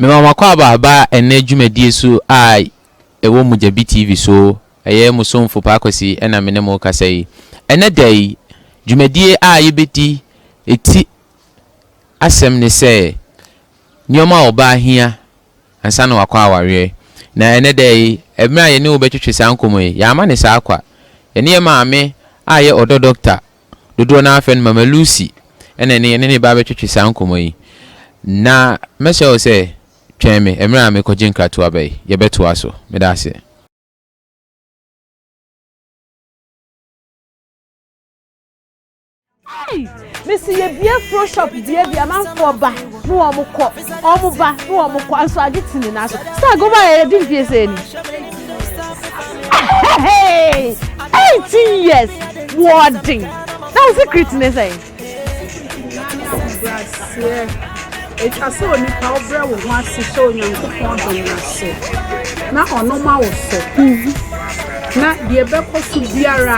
Mema makɔ aba aba ɛnnɛ dwumadie so a ɛwɔ Mogyabi TV so. Ɛyɛ mo somfo Paa Kwasi na me ne mo rekasa yi. Ɛnnɛ da yi, dwumadie a yɛbɛdi ɛti asɛm ne sɛ nneɛma a ɔbaa hia ansa na wakɔ awareɛ. Na ɛnnɛ da yi, mmerɛ a yɛne wo bɛtwetwe saa nkɔmmɔ yi, yɛamma no saa kwa. Yɛne yɛn maame a ɛyɛ ɔdɔ dɔkta, dodoɔ no ara frɛ no Mama Lucy, ɛna ɛne yɛne no reba abɛtwetwe saa nkɔmmɔ yi. Na mɛsrɛ wo sɛ twɛn me mmerɛ a merekɔgye nkratoa ba yi. Yɛbɛtoa so. Meda aseɛ. Ei! Mese yɛbie fro shop deɛ deɛ amanfoɔ ba ne wɔn kɔ, wɔn ba ne wɔn kɔ, nso agye te ne nan so. Sɛ agoma a yɛde mfie sɛ ni. Eighteen years wɔɔden na wo secret ne sɛ. Ɛtwa sɛ onipa wobrɛ wo ho ase hyɛ Onyankopɔn dom no ase na ɔno ma wo so na deɛ ɛbɛkɔ so biara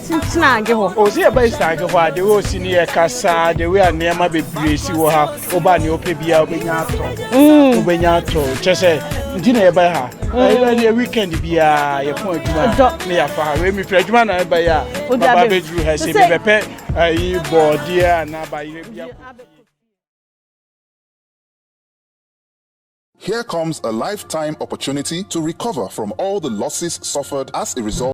tena adwe hɔ. O sɛ yɛba tena adwe hɔ a de wɔ si ne yɛ kasa de wɔ a nneɛma bebree si wɔ ha woba nea ɔpɛ biara wobɛnya atɔ mm. wobɛnya atɔ kyɛ sɛ nti na yɛba ha mm. ɛyɛ ne weekend biara yɛpɔn adwuma ne yɛafa ha wei mefiri adwuma na ɛba yɛ a baba bɛduru ha sɛ mebɛpɛ ayi bɔɔdeɛ anaa bayerɛ biako Here comes a lifetime opportunity to recover from all the losses suffered as a result.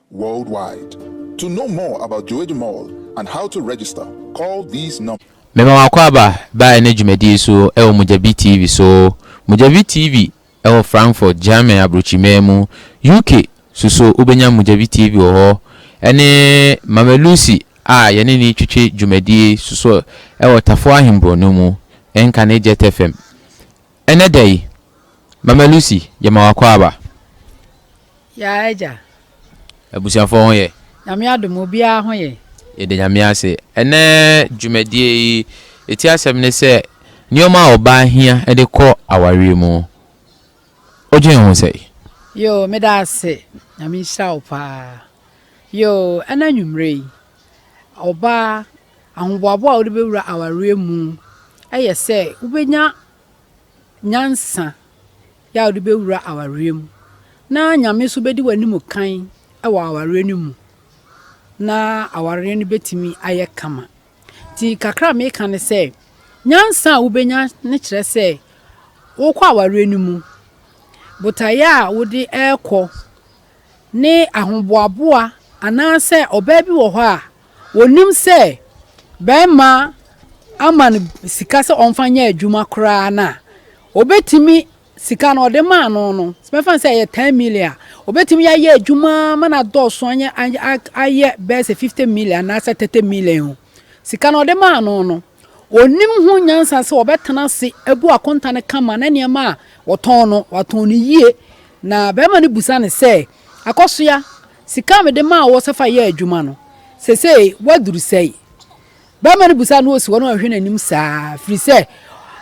worldwide. To know more about Joeji Mall and how to register, call these numbers. Mema wo akwaaba ba ɛnɛ dwumadie so wɔ Mugyabi TV so. Mugyabi TV wɔ Frankfurt, Germany abrokyimaa mu. UK so so wobɛnya Mugyabi TV wɔ hɔ. Ɛne Mama Lucy a yɛne no retwetwe dwumadie so so wɔ Tafo Ahenborɔno mu. Ɛnka ne Jet FM. Ɛnnɛ da yi, Mama Lucy, yɛma wo akwaaba. Yɛa agya. Abusuafoɔ ho yɛ? Nyame adom, obiara ho yɛ. Yɛda Nyame ase. Ɛnnɛ dwumadie yi, ɛti asɛm ne sɛ, nneɛma a ɔbaa hia de kɔ awareɛ mu. Wodwen ho sɛn? Yoo, meda ase. Nyame nhyira wo paa. Yoo, ɛnnɛ anwummerɛ yi, ɔbaa Ahoboaboa a wode bɛwura awareɛ mu yɛ sɛ wobɛnya nyansa yɛ a wode bɛwura awareɛ mu na Nyame nso bɛdi w'anim kan wɔ awareɛ no mu na awareɛ no bɛtumi ayɛ kama. Nti kakra a meka ne sɛ, nyansa a wobɛnya ne kyerɛ sɛ wokɔ awareɛ no mu, botaeɛ a wode ɛrekɔ ne ahoboaboa anaasɛ ɔbaa bi wɔ hɔ a ɔnim sɛ barima ama no sika sɛ ɔmfa nyɛ adwuma koraa no a, ɔbɛtumi sika no ɔde maa no no, bɛfa no sɛ ɛyɛ 10 million a, ɔbɛtumi yɛ ayɛ adwuma ma no adɔɔso ayɛ bɛyɛ sɛ 50 million anaasɛ 30 million. Sika no ɔde maa no no. Wɔnim ho nyansa sɛ wɔbɛtena ase agu akonta no kama na nneɛma a wɔtɔn no, wɔatɔn no yie. Na barima no bisa no sɛ, Akɔsoa, sika a mede maa wo sɛ fa yɛ adwuma no, seesei woaduru sɛn? Barima no bisa no osiwɔ na wahwɛ n'anim saa, ɛfiri sɛ,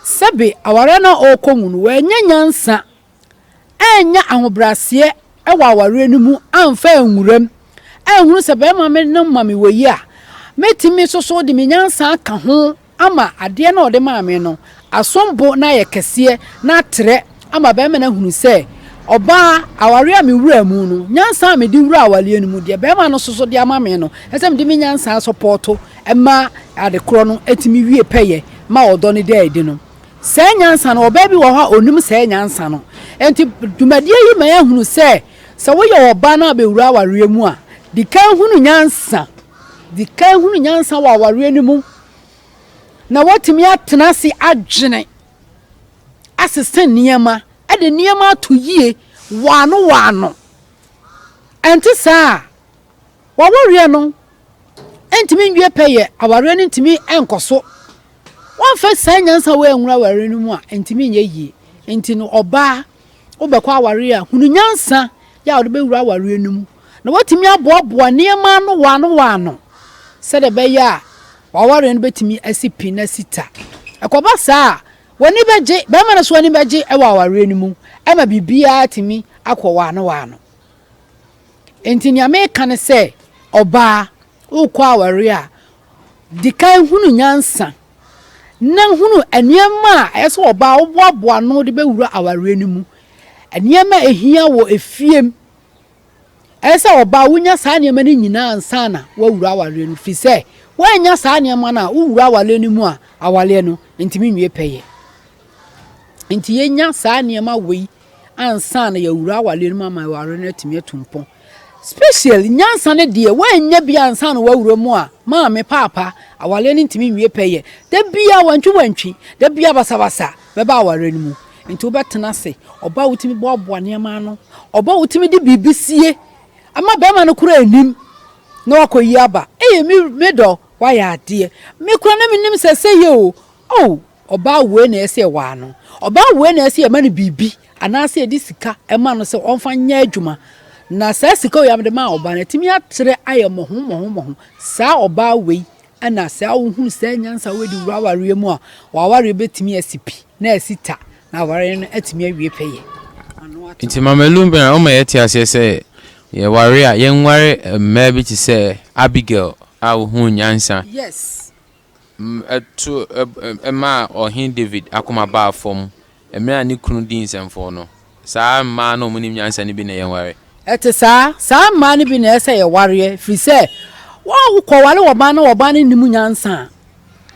sɛbe awareɛ no a ɔrekɔ mu no, wannya nyansa. annya ahobrɛaseɛ wɔ awareɛ no mu amfa anwura mu, anhunu sɛ barima me no ma me wɔ yi a, mɛtumi nso so de me nyansa aka ho ama adeɛ no a ɔde maa me no asom bo na ayɛ kɛseɛ na atrɛ ama barima no ahunu sɛ ɔbaa awareɛ a mewuraa mu no, nyansa a mede wuraa awareɛ no mu, deɛ barima no nso so de ama me no, ɛsɛ sɛ mede me nyansa sɔpɔɔto ma adekorɔ no tumi wie pɛyɛ ma ɔdɔ no da adi no. Saa nyansa no, ɔbaa bi wɔ hɔ a ɔnim saa nyansa no. Enti dwumadie yi ma yɛhunu sɛ, sɛ woyɛ ɔbaa na abɛwura awareɛ mu a, di kan hunu nyansa. Di kan hunu nyansa wɔ awareɛ no mu na woatumi atena ase adwene, asesa nneɛma, de nneɛma ato yie wɔ ano wɔ ano. Ɛnte saa a, w'awareɛ no. ntumi nwie pɛyɛ, awareɛ no ntumi nkɔ so. Wɔmfa saa nyansa wei anwura awareɛ no mu a, ntumi nyɛ yie. Nti no ɔbaa, wobɛkɔ awareɛ a, hunu nyansa yɛ a wode bɛwura awareɛ no mu. Na woatumi aboaboa nneɛma ano wɔ ano wɔ ano sɛdeɛ ɛbɛyɛ a w'awareɛ no bɛtumi asi pi na asi ta. Ɛkɔba saa a, w'ani bɛgye, bɛrima no nso ani bɛgye wɔ awareɛ no mu ma biribiara atumi akɔ wɔ ano wɔ ano. Enti nea meka ne sɛ, ɔbaa, worekɔ aware a, di kan hunu nyansa na hunu nneɛma a ɛyɛ sɛ ɔbaa woboaboa no de bɛwura awareɛ no mu. Nneɛma a ɛhia wɔ efiem. Ɛyɛ sɛ ɔbaa wonya saa nneɛma no nyinaa ansa na woawura awareɛ no firi sɛ woannya saa nneɛma no a wowura awareɛ no mu a awareɛ no ntumi nwie pɛyɛ. Nti yɛnya saa nneɛma wei ansa na yɛawura awareɛ no mu ama awareɛ no atumi atu mpɔn special nyansa no deɛ woanyɛ bi ansa na woawura mu a maame paapa awareɛ no ntumi nwie pɛ yɛ da bia wantwi wantwi da bia basabasa bɛba awareɛ no mu nti wobɛtena ase ɔba wotumi boaboa nneɛma ano ɔba wotumi de biribi sie ama bɛrima no kora anim na wakɔyi aba ɛyɛ me dɔ wayɛ adeɛ mekora na menim sɛ sɛ yɛ o Oh ɔbaa wei na ɛsɛ yɛwaa no, ɔbaa wei na ɛsɛ yɛma no biribi anaasɛ yɛde sika ɛma no sɛ ɔmfa nyɛ adwuma na saa sika wei a mede maa ɔbaa no atumi atrɛ ayɛ mmɔho mmɔho mmɔho saa ɔbaa wei ɛna saa wohunu saa nyansa wei de wura awareɛ mu a w'awareɛ bɛtumi asi pi na asi ta na awareɛ no atumi awie pɛyɛ. Nti Mama Lumbena ɔma yɛte aseɛ sɛ yɛware a yɛnware mmaa bi te sɛ Abigail a wohuu nyansa. Yes. to maa Ɔhene Dawid akoma baa fam mmerɛ a ne kunu dii nsɛmfɔɔ no. Saa mmaa no a wɔnim nyansa no bi na yɛnware. Ɛte saa. Saa mmaa no bi na ɛsɛ sɛ yɛwareɛ, ɛfiri sɛ wokɔware ɔbaa na ɔbaa no nnim nyansa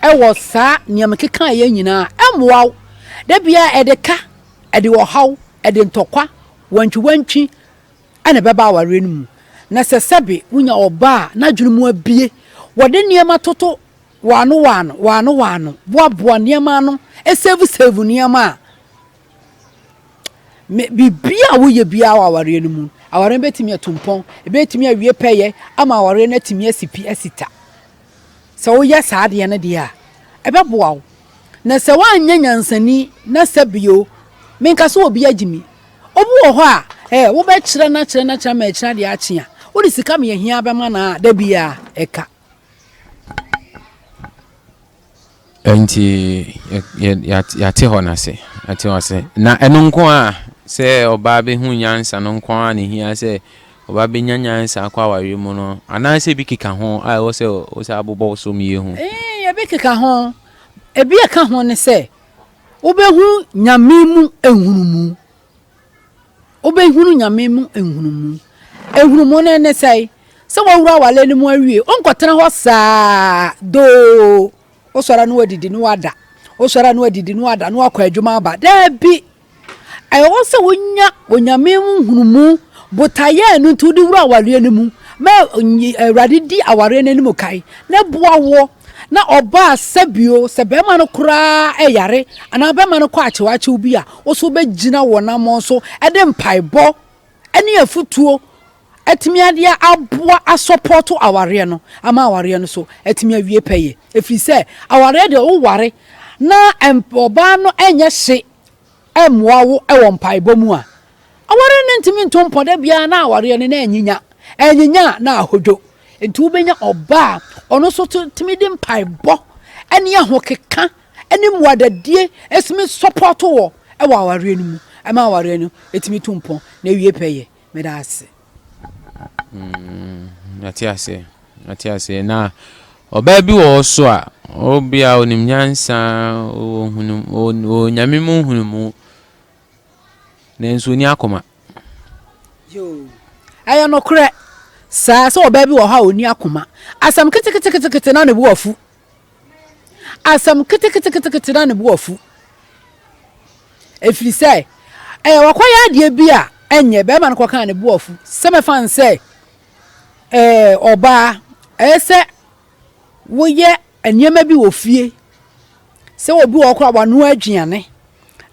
a, wɔ saa nea mekekaeɛ nyina ara a, ɛmmoa wo. Da biara ɛde ka, ɛde ɔhaw, ɛde ntɔkwa, wantwiwantwi. na ɛbɛba awareɛ no mu, na sɛ sɛbe wonya ɔbaa a n'adwene mu abue, wɔde nneɛma toto wɔano wɔano, wɔano wɔano, boaboa nneɛma ano, save save nneɛma a, me, biribiara a woyɛ biara wɔ awareɛ no mu, awareɛ no bɛtumi atu mpɔn, ɛbɛtumi awie pɛyɛ ama awareɛ no atumi asi pi asi ta. Sɛ woyɛ saa adeɛ no deɛ a, ɛbɛboa wo. Na sɛ woanyɛ nyansani na sɛ bio, menka sɛ obi agye me. Obi wɔ hɔ a, eh, wobɛkyerɛ no akyerɛ no akyerɛ ama akyiri adeɛ akye a, wode sika meahia bɛma no a, da biara ɛka. Enti yɛate hɔ no ase, yɛate hɔ ase. Na ɛno nko ara, sɛ ɔbaa bɛhu nyansa no nko ara na ɛhia sɛ ɔbaa bɛnya nyansa akɔ awareɛ mu no, anaasɛ bi keka ho a ɛwɔ sɛ wosan bobɔ wo so mie hu? Ee, ebi keka ho. Ebi a ɛka ho ne sɛ wobɛhu Nyame mu nhunumu. wobɛhunu nyame mu nhunumu nhunumu no ne sɛe sɛ wawura awale no mu awie wonkɔtena hɔ saa doo wosɔre no wadidi no wada wosɔre no wadidi no wada no wakɔ adwuma aba daabi ɛwɔ sɛ wonya onyame mu nhunumu botaeɛ no nti wode wura awareɛ no mu ma awurade di awareɛ no anim kae na boa woɔ Na ɔbaa sɛ bio, sɛ bɛɛma no koraa yare anaa bɛɛma no kɔ akyewakyew bi a, wo so wobɛgyina wɔ namɔn so de mpaebɔ ne afutuo atumi adeɛ aboa asɔpɔɔto awareɛ no ama awareɛ no so atumi awie pɛyɛ. Ɛfiri sɛ awareɛ deɛ woware na ɔbaa no nyɛ hye mmoa wo wɔ mpaebɔ mu a, aware no ntumi nto mpɔ da biara na awareɛ no na anyinya. Anyinya a, na ahodwo. Nti wobɛnya ɔba a ɔno nso tumi de mpaebɔ ne ahokeka ne mmuadadie ɛtumi sɔpɔɔto wɔ wɔ awareɛ no mu ɛma awareɛ no ɛtumi to mpɔ na ɛwie pɛyɛ. Meda ase. Mm, mate ase. Mate ase. Na ɔbaa bi wɔ hɔ so a, obia onim nyansa, ohunu, onyame mu hunu mu. Nanso oni akoma. Yo. Ɛyɛ nokorɛ. Saa sɛ ɔbaa bi wɔ hɔ a oni akoma. Asɛm keteketekete na ne bo afu. Asɛm keteketekete na ne bo afu. Ɛfiri sɛ, ɛyɛ wakɔyɛ adeɛ bi a ɛnyɛ bɛrima no kɔkaa ne bo afu sɛ mɛfa no sɛ ɛɛ ɔbaa ɛyɛ sɛ woyɛ nneɛma bi wɔ fie sɛ obi wɔ koraa wanoa aduane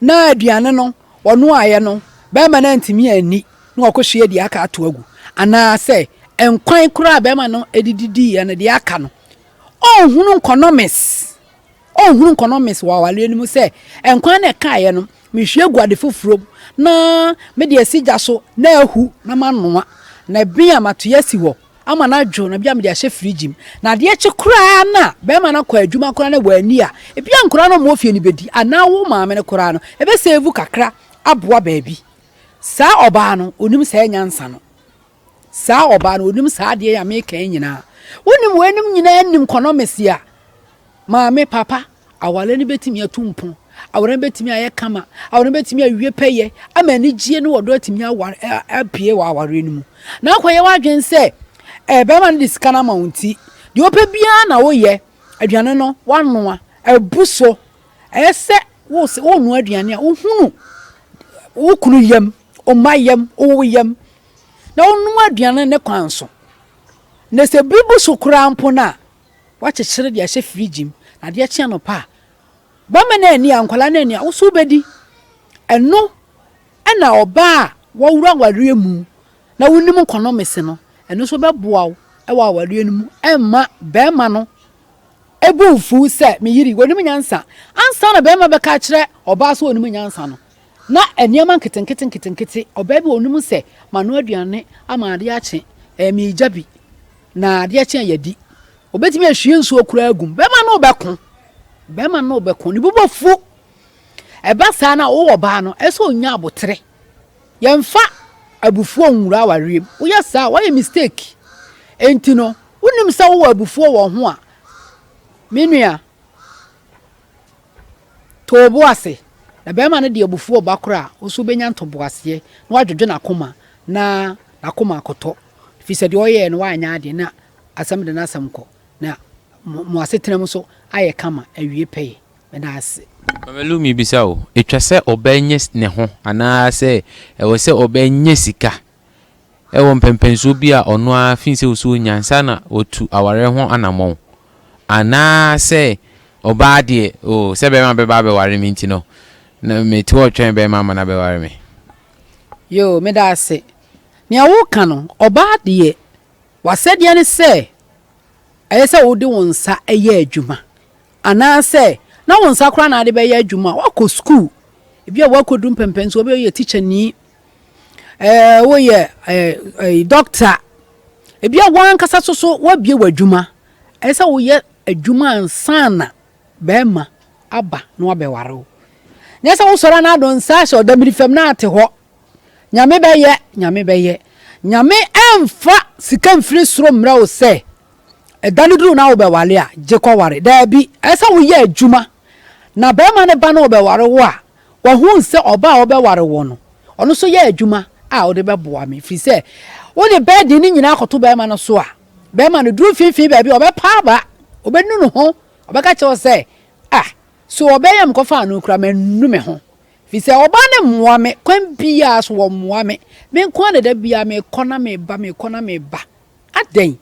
na aduane no wɔnoaeɛ no bɛrima no antumi anni na wakɔhyia deɛ aka ato agu anaasɛ nkwan koraa bɛrima no ɛdididiiɛ no deɛ aka no ɔnhunu nkɔnɔmes ɔnhunu nkɔnɔmes wɔ awareɛ no mu sɛ nkwan na ɛkaeɛ no mehwie gu ade foforɔ mu na mede asi gya so na ahu na manoa na bi a matoyɛ asi hɔ ama no adwo na bi a mede ahyɛ firigye mu na adeɛ kye koraa no a bɛrima no akɔ adwuma koraa na wɔani a ebi a nkoraa no ɔmo ofie no bɛdi anaa wo maame no koraa no ɛbɛsɛvu kakra aboa baabi saa ɔbaa no onim saa nyansa no Saa ɔbaa no, onim saa adeɛ yi a mereka yi nyinaa. Wonim weinom nyinaa nim kɔnɔmɛsi a, maame, papa, awareɛ no bɛtumi atu mpɔn, awareɛ no bɛtumi ayɛ kama, awareɛ no bɛtumi awie pɛyɛ, ama anigyie ne ɔdɔ atumi aware, apue wɔ awareɛ no mu. Na akɔyɛ w'adwene sɛ, eh, bɛrima no de sika no ama wo nti, deɛ ɔpɛ biara na woyɛ, aduane no woanoa, abu so, ɛyɛ sɛ wose wonoa aduane a, wohunu wo kunu yam. Ɔma yam, ɔwɔ yam, na ɔnom aduane ne kwan so. Na sɛ bere bu so koraa mpo no a, wakyekyere de ahyɛ firigye mu, na adeɛ kye anɔpa a, bɛma no ani a, nkwadaa no ani a, wo so wobɛdi. Ɛno na ɔbaa a wɔworo awareɛ mu na wonim nkɔnɔmese no, ɛno nso bɛboa wo wɔ awareɛ no mu ɛmma barima no ɛbu mfuw sɛ me yere yi, ɔnim nyansa. Ansa na barima bɛka akyerɛ ɔbaa sɛ ɔnim nyansa no, Ná nneɛma nketenkete nketenkete, ɔbaa bi wɔ hɔ, ɔnim sɛ manoa aduane ama adeɛ akye, ɛɛ, meregya bi, na adeɛ kye a yɛadi. Ɔbɛtumi ahwie nsuo koraa agu mu. Bɛrima no rebɛko. Bɛrima no rebɛko. Ne bo bɛfu. Ɛba saa na wowɔ ɔbaa no, ɛsɛ sɛ ɔnya abotere. Yɛmfa abufuo nwura awareɛ mu. Woyɛ saa a, woayɛ mistake. Enti no, wonim sɛ wowɔ abufuo wɔ ho a, me nua, To wo bo ase, na barima no de abufuo reba koraa a, wo nso wobɛnya ntoboaseɛ na woadwodwo n'akoma na n'akoma akɔtɔ, ɛfiri sɛ deɛ ɔyɛeɛ no wanyɛ adeɛ na asɛm de n'asɛm kɔ, na mo, mo asetenam nso ayɛ kama awie pɛyɛ. Meda ase. Mama Lu, mebisa wo, etwa sɛ ɔbaa nya ne ho anaa sɛ ɛwɔ sɛ ɔbaa nya sika? wɔ mpɛnpɛnsoɔ bi a ɔno ara fi sɛ ɔsɛ ɔnya ansa na watu awareɛ ho anammɔn. Anaa sɛ ɔbaa deɛ, oh, sɛ bɛrima bɛba abɛware me nti no, na mete hɔ retwɛn bɛrima ama no abɛware me. Yoo, meda ase. Nea woreka no, ɔbaa deɛ, w'asɛdeɛ ne sɛ ɛyɛ sɛ wode wo nsa yɛ adwuma. Anaa sɛ na wo nsa koraa na wode bɛyɛ adwuma a, woakɔ sukuu. Ebia woakɔduru mpɛnpɛnsoɔ, ebia woyɛ tikyani, ɛɛ woyɛ ɛɛ dɔkta ebi a wankasa so so wabie w'adwuma ɛyɛ sɛ woyɛ adwuma ansana bɛrima aba na wabɛware wo nyɛ sɛ wosɔre a na adɔn nsa ahyɛ ɔdamiri fam na ate hɔ nyame bɛyɛ nyame bɛyɛ nyame ɛmfa sika mfiri soro mmerɛ wo sɛ ɛda no duru na wobɛware a gye kɔware daabi ɛyɛ sɛ woyɛ adwuma na bɛrima no ba na ɔbɛware wo a Wɔhuu sɛ ɔbaa a ɔbɛware wo no, ɔno nso yɛ adwuma a wode bɛboa me, ɛfiri sɛ wode bɛɛden no nyinaa kɔto barima no so a, barima no duru mfimfini baabi a, ɔbɛpa aba, ɔbɛnu ne ho, ɔbɛka kyerɛ wo sɛ, 'A, so ɔbaa yi a mekɔfaa no no kura manu me ho? Ɛfiri sɛ ɔbaa no mmoa me, kwan biara so wɔmmoa me. Me nko ara na da biara mekɔ na meba, mekɔ na meba. Adɛn?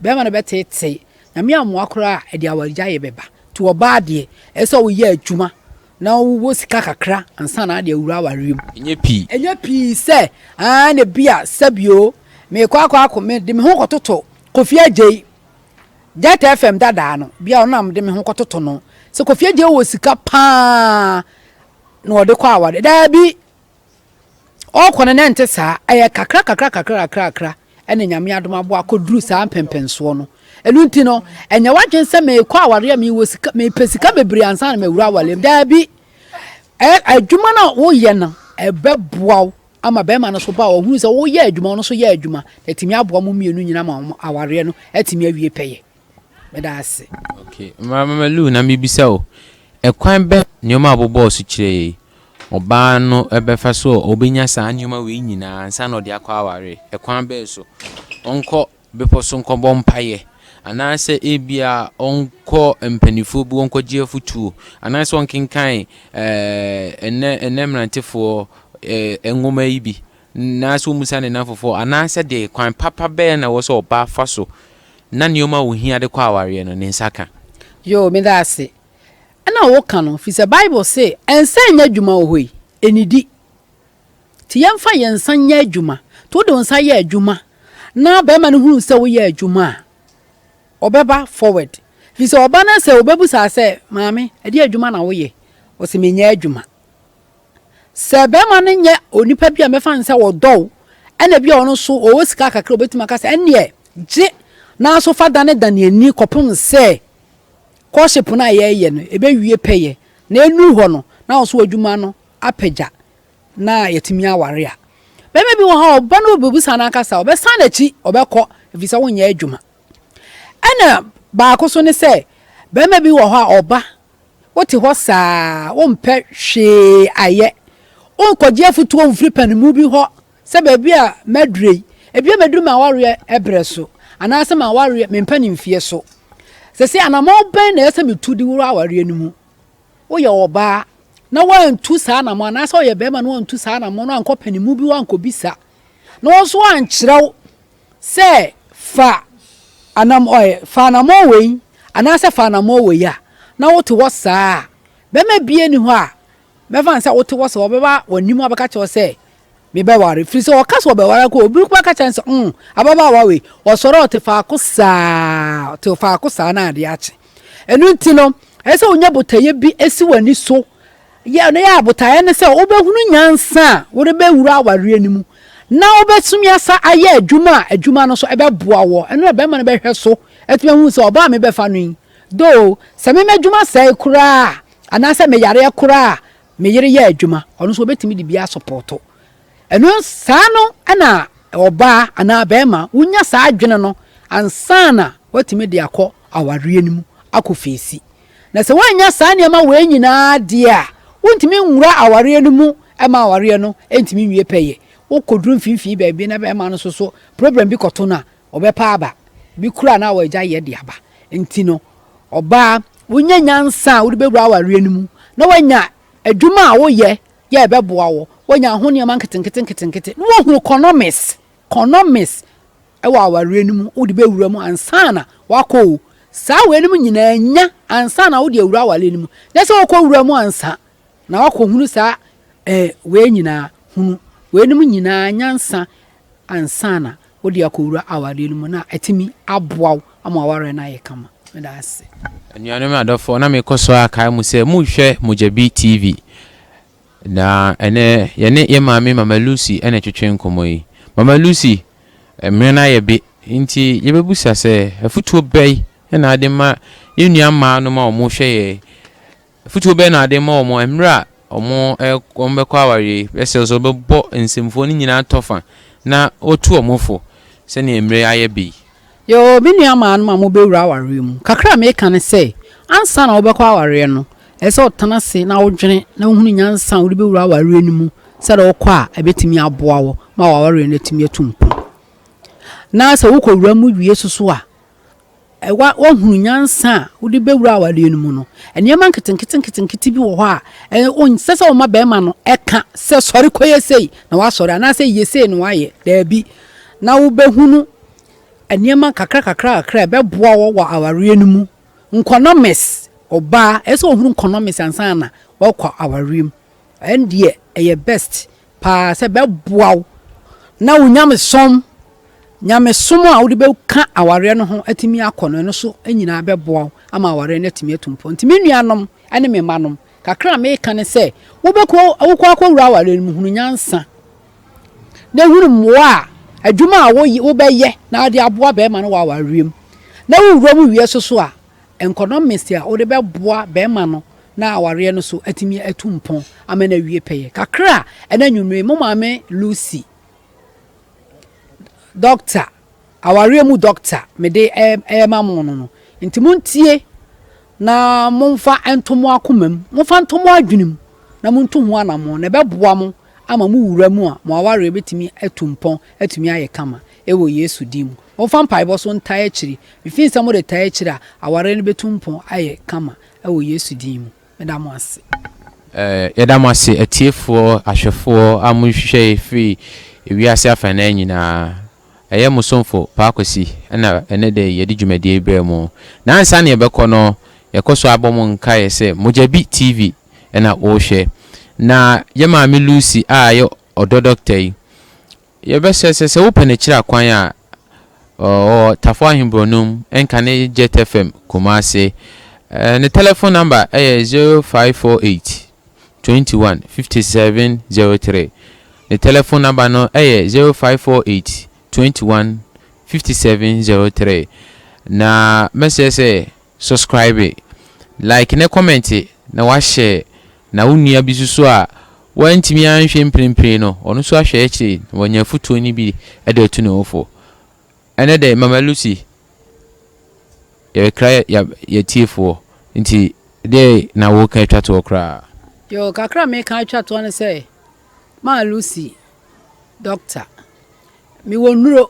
Barima no bɛteetee, Nyame ammoa koraa a, ɛde awaregyaeɛ bɛba. Nti ɔbaa deɛ, ɛsɛ sɛ woyɛ adwuma Na wowɔ sika kakra ansa na ade awura awareɛ mu. Ɛnyɛ pii. Ɛnyɛ pii sɛ, aane na bi a sɛbio meekɔ akɔ ako me de me ho kɔtoto Kofi Agyei. Jet FM dadaa no, bi a ɔno na mede me ho kɔtoto no. Sɛ Kofi Agyei wɔ sika pa ara na ɔde kɔ awareɛ, daabi. ɔɔkɔ no na ɛnte saa, ɛyɛ kakra kakra kakra kakra kakra ɛna Nyame adom aboa akɔduru saa mpɛmpɛnsoɔ no. Ɛno nti no, ɛnyɛ w'adwene sɛ meekɔ awareɛ a mewɔ sika, mepɛ sika bebree ansa na mawura awareɛ mu. Daabi. Ɛ, adwuma no a woyɛ no, ɛbɛboa wo ama bɛrima no so ba a ɔhunu sɛ woyɛ adwuma, ɔno so yɛ adwuma, na atumi aboa mo mmienu nyina ma awareɛ no atumi awie pɛyɛ. Meda ase. Okay, Mmara Mama Lou, na mebisa o, ɛkwan bɛn na nneɛma a wɔbobɔɔ so kyerɛɛ yɛ yi, ɔbaa no bɛfa so a ɔbɛnya saa nneɛma wei nyinaa ansa na ɔde akɔ awareɛ? Ɛkwan bɛn so? Ɔnkɔ bepɔ so nkɔbɔ mpaeɛ, anaasɛ ebia ɔnkɔ mpanimfoɔ bi hɔ nkɔgye afotuo, anaasɛ ɔnkenkan ɛɛ ɛnnɛ ɛnnɛ mmerantefoɔ ɛɛ nwoma yi bi, Anaasɛ ommisa ne nnamfofoɔ? Anaa sɛdeɛ kwan papa bɛn na ɛwɔ sɛ ɔbaa fa so na nneɛma a ohia de kɔ awareɛ no, ne nsa ka? Yoo, meda ase. Ɛna woka no, firi sɛ Bible se nsa nyɛ adwuma wɔ hɔ yi, ɛnnidi. Nti yɛmfa yɛn nsa nyɛ adwuma. Nti wode wo nsa yɛ adwuma na barima no hunu sɛ woyɛ adwuma a, ɔbɛba forward. Firi sɛ ɔba no sɛ ɔbɛbusa sɛ, Maame, ɛdeɛn adwuma na woyɛ? Ɔse, Menyɛ adwuma. Sɛ barima no nyɛ onipa bi a mɛfa no sɛ ɔdɔ wo, ɛna bi a ɔno nso ɔwɔ sika kakra a ɔbɛtumi aka sɛ, ɛnneɛ gye na so fa danedane ani kɔpem sɛ courtship no a yɛreyɛ no ɛbɛwie pɛyɛ na ɛnuru hɔ no na wo nso w'adwuma no apagya na yɛatumi aware a. Barima bi wɔ hɔ a ɔba no ɔbɛbisa no ankasa, ɔbɛsan n'akyi ɔbɛkɔ ɛfiri sɛ wonyɛ adwuma. Ɛna baako so ne sɛ, barima bi wɔ hɔ a ɔba Wote hɔ saa a, wompɛ hwee ayɛ. Wonkɔgye afotuo mfiri panimu bi hɔ sɛ baabi a madure yi, ebia maduru m'awareɛ berɛ so anaasɛ m'awareɛ me mpanimfeɛ so. Seesei anammɔn bɛn na ɛyɛ sɛ metu de wura awareɛ no mu? Woyɛ ɔbaa na woantu saa anammɔn anaasɛ woyɛ barima na woantu saa anammɔn no ankɔ panimu bi hɔ ankɔbisa na wɔn nso ankyerɛ wo Sɛ fa anam ɔe, fa anammɔn wei, anaasɛ fa anammɔn wei a, na wote hɔ saa a, bɛrima biara nni hɔ a mɛfa no sɛ wote hɔ saa, ɔbɛba w'anim abɛka kyerɛ wo sɛ, mebɛware. Ɛfiri sɛ ɔka sɛ ɔbɛware a, obi bɛka kyerɛ no sɛ, mm, ababaawa wei, ɔsɔre a ɔte faako saa, ɔte faako saa na adeɛ akye. Ɛno nti no, ɛsɛ sɛ wonya botaeɛ bi si w'ani so Yɛ no yɛ a botaeɛ ne sɛ wobɛhunu nyansa a wode bɛwura awareɛ no mu na wobɛtumi asa ayɛ adwuma a adwuma no nso ɛbɛboa woɔ. Ɛno na bɛrima no bɛhwɛ so atumi ahunu sɛ ɔbaa a mebɛfa no yi, though sɛ me m'adwuma sɛe koraa a anaasɛ meyareɛ koraa a me yere yɛ adwuma, ɔno nso ɔbɛtumi de bi asopɔɔto. Ɛno saa no na ɔbaa anaa bɛrima wonya saa adwene no ansa na woatumi de akɔ awareɛ no mu akɔ feesi Na sɛ woannya saa nneɛma wei nyinaa deɛ a, wontumi nwura awareɛ no mu ma awareɛ no ntumi nwie pɛyɛ. Wokɔduru mfimfini baabi na bɛrima no nso so problem bi kɔto no a, ɔbɛpa aba. Ebi koraa na wɔagya yɛ de aba. Nti no, ɔbaa, wonya nyansa a wode bɛwura awareɛ no mu na woanya adwuma a woyɛ yɛ ɛbɛboa wo, woanya ho nneɛma nketenkete nketenkete na woahu economics. Condoms wɔ awareɛ no mu wode bɛwura mu ansa na wakɔ o. Saa wei nom nyinaa nya ansa na wode awura awareɛ no mu. Nyɛ sɛ wokɔ wura mu ansa na wakɔ hunu saa eh, wei nyinaa hunu. Wei nom nyinaa nyansa ansa na wode akɔ wura awareɛ no mu na atumi aboa wo ama awareɛ no ayɛ kama. Meda ase. Anuanom adɔfoɔ, na mekɔ so ara kae mo sɛ monhwɛ Mogyabi TV. Na ɛnnɛ, yɛne yɛn maame Mama Lucy na ɛtwetwe nkɔmmɔ yi. Mama Lucy, mmerɛ no ayɛ be, nti yɛbɛbusa sɛ, afutuo bɛn na wode ma yɛn nua mmaa nom a wɔrehwɛ yɛn? Afutuo bɛn na wode ma wɔn mmerɛ a wɔn bɛkɔ awareɛ bɛsrɛ sɛ wɔbɛbɔ nsɛmfua no nyinaa tɔfa na wɔtu wɔn fo sɛdeɛ mmerɛ yi ayɛ be yi? Yoo, me nuamaanom a mobewura awareɛ mu, kakra a meka ne sɛ, ansa na wobɛkɔ awareɛ no, ɛsɛ sɛ wotena ase na wodwene na wohunu nyansa a wode bɛwura awareɛ no mu sɛdeɛ wokɔ a ɛbɛtumi aboa wo ma w'awareɛ no atumi atu mpɔn. Na sɛ wokɔwura mu wie so so a, woahunu nyansa a wode bɛwura awareɛ no mu no, nneɛma nketenketenketenkete bi wɔ hɔ a ɔnsɛ sɛ woma bɛrima no ɛka sɛ sɔre kɔyɛ sei na wasɔre anaasɛ yɛ sei na wayɛ, daabi. Na wobɛhunu Nneɛma kakrakakrakakra a ɛbɛboa wo wɔ awareɛ no mu. Nkɔnɔmes, ɔbaa ɛsɛ sɛ ɔhunu nkɔnɔmes ansa na wakɔ awareɛ mu. Ɛno deɛ ɛyɛ best paa sɛ ɛbɛboa wo na wo nyamesom, nyamesom a wode bɛka awareɛ no ho atumi akɔ no, ɛno so nyinaa bɛboa wo ama awareɛ no atumi atu mpɔ. Nti me nuanom ne me mmanom, kakra a meka ne sɛ, wobɛkɔ, wokɔ akɔwura awareɛ no mu, hunu nyansa. na hunu mmoa a adwuma a wobɛyɛ na wode aboa barima no wɔ awareɛm. Na wo wuram wie so so a, economics a wode bɛboa barima no na awareɛ no so atumi atu mpɔn ama no awie pɛyɛ. Kakra a ɛna anwummere, mo maame Lucy, Dɔkta. Awareɛ mu dɔkta mede rema mo no no. Nti montie na momfa nto mo akomam, momfa nto mo adwenem na montu ho anammɔn, na ɛbɛboa mo ama mo wura mu a mo awareɛ bɛtumi atu mpɔn atumi ayɛ kama wɔ Yesu din mu. Momfa mpaebɔ so ntae akyire, mefii sɛ mode tae akyire a, awareɛ no bɛtu mpɔn ayɛ kama wɔ Yesu din mu. Meda mo ase. Yɛda mo ase atiefoɔ, ahwɛfoɔ a mo hwehwɛ yɛ firi ewiase afanan nyinaa. Ɛyɛ mo somfo Paa Kwasi na ɛnɛ da yi yɛde dwumadie yi brɛ mo. Na ansa na yɛbɛkɔ no, yɛkɔ so abɔ mo nkaeɛ sɛ Mogyabi TV na wohwɛ. Na yɛ maame Lucy a ɛyɛ ɔdɔ dɔkta yi, Yɛbɛsɛ sɛ sɛ wopɛ no kyerɛ akwan a, ɔwɔ Tafo Ahenborɔnom, Nkane Jet FM, Kumase. Ne tɛlɛfon nɔmba yɛ zero five four eight, twenty one, fifty seven, zero three. Ne tɛlɛfon nɔmba no yɛ zero five four eight, twenty one, fifty seven, zero three. Na mɛsɛ sɛ Suscribe, like ne comment na wa share na wo nua bi nso so a wantumi anhwɛ mprempren no ɔno nso ahwɛ akyire na wanya afutuo no bi de atu ne ho fo. Ɛnɛ dɛ Mama Lucy yɛrekra yɛ tiefoɔ nti dɛɛ na wo reka atwa toɔ koraa? Yoo kakra me ka atwa toɔ ne sɛ Maa Lucy doctor me wɔ nnuro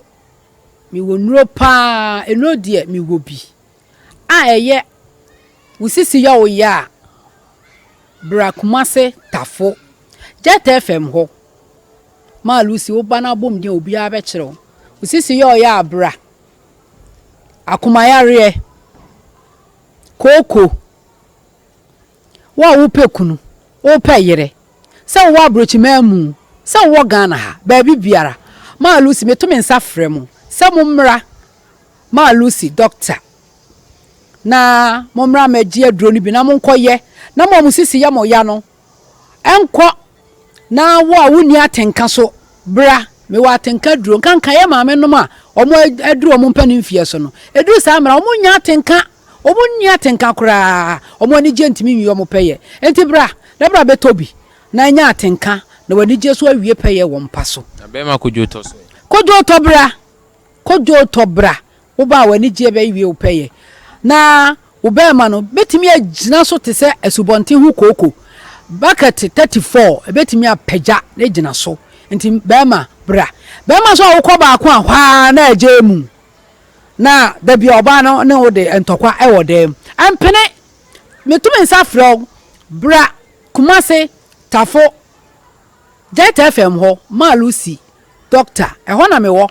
me wɔ nnuro paa nnuro deɛ me wɔ bi. a ɛyɛ wo sisi yɛ wo ya a, bra Kumase Tafo, Jet FM hɔ ma Lucy wo ba no abom din a obiara bɛkyerɛ wo. Wo sisi yɛ wo ya a bra. Akomayareɛ, kooko. Wo a wopɛ kunu, wopɛ yere, sɛ wowɔ abrokyiman mu, sɛ wowɔ Ghana ha, baabi biara, Maa Lucy, meto me nsa frɛ mo sɛ mommra Maa Lucy dɔkta na mommra mmɛgye aduro no bi na monkɔyɛ na mo a mo sisi yɛ mo ya no nkɔ Na wo a wonni atenka so, bra, mewɔ atenka aduro. Nkanka yɛ maame nom a ɔmo aduru ɔmo mpanin mfeɛ so no, eduru saa mmera ɔmo nnya atenka, ɔmo nni atenka koraa, ɔmo anigyeɛ ntumi nwie ɔmo pɛyɛ. Enti bra, na bra bɛtɔ bi, na nya atenka, na w'anigyeɛ so awie pɛyɛ wɔ mpa so. Na bɛɛma kodwoo tɔ so ɛ? Kodwoo tɔ bra, kodwoo tɔ bra, Wo ba a w'ani gye bɛwie wo pɛyɛ, na wo barima no betumi agyina so te sɛ asubɔnten ho kooko bakɛte thirty-four, ebetumi apagya na agyina so. Enti barima, bra. Barima nso a wokɔ baako a, hɔ ara na agyae mu, na da bi a ɔbaa no ne wo de ntɔkwa wɔ dan mu. Ɛmpene! Meto me nsa frɛ wo, bra Kumasi, Tafo, Delta FM hɔ, Maa Lucy, Doctor, ɛhɔ na mewɔ.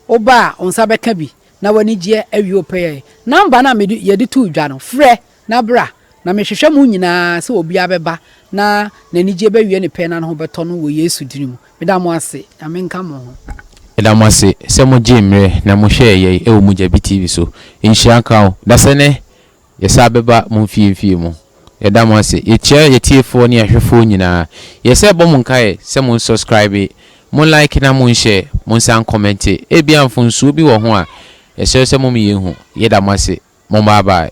Wo ba a, wo nsa bɛka bi, na w'anigyeɛ awie wo pɛyɛ. Namba no a mede, yɛde too dwa no, frɛ na bra, na mehwehwɛ mo nyinaa sɛ obiara bɛba na n'anigyeɛ bɛwie ne pɛ na ne ho bɛtɔ no wɔ Yesu dini mu. Meda mo ase. Nyame nka mo ho. Meda mo ase sɛ mo gyee mmerɛ na mo hwɛɛ yɛn wɔ Mogyabi TV so. Nhyira nka wo. Dasani Yɛsan bɛba mo mfie-mfie mu. Yɛda mo ase. Yɛkyia yɛtiefoɔ ne yɛahwɛfoɔ nyinaa. Yɛ sɛ bɔ mo nkaeɛ sɛ mo nsɔskraibe, mo like na mo nhyɛ, mo nsan nkɔmɛnte. Ebia mfonsuo bi wɔ ho a, yɛsrɛ sɛ mom yɛn hu. Yɛda mo ase. Mom bye bye.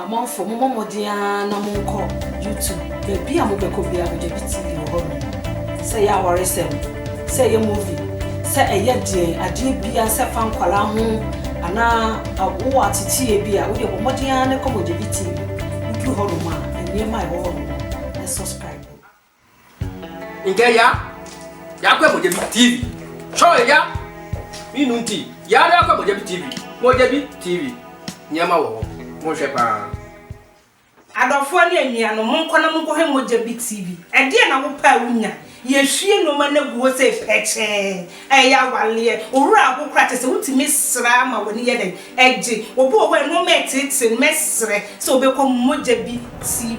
Amanfoɔ mommɔ mmɔden ara na monkɔ YouTube, baabi a mobɛkɔ biara no Gyabi TV wɔ hɔ nom. Sɛ ɛyɛ awaresɛm, sɛ ɛyɛ movie, sɛ ɛyɛ deɛn, adeɛ biara, sɛ ɛfa nkwadaa ho anaa wowɔ ateteeɛ bi a, wodeɛ bɔ mmɔden ara na kɔ ma Gyabi TV. Woduru hɔ nom a, nneɛma a ɛwɔ hɔ nom no, subscribe. Nkɛ ya, ya kɔ ɛmɔgya bi TV. Chɔe ya, mi nu nti, ya ya kɔ ɛmɔgya bi TV. Mɔgya bi TV, nneɛma wɔ hɔ, mo nhwɛ paa. Adɔfoɔ ne anuanom, monkɔ na monkɔhwɛ Mogya Bi TV. Ɛdeɛn na wopɛ a wonya? Yɛhwie nnoɔma no agu hɔ sei pɛkyɛɛ. Ɛyɛ awaleɛ. Wo werɛ aho koraa kyerɛ sɛ wotumi sra ma w'ani yɛ dɛn? Ɛgye. Obi wɔ hɔ a nnoɔma ɛteetee no, mɛsrɛ sɛ ɔbɛkɔ Mogya Bi TV.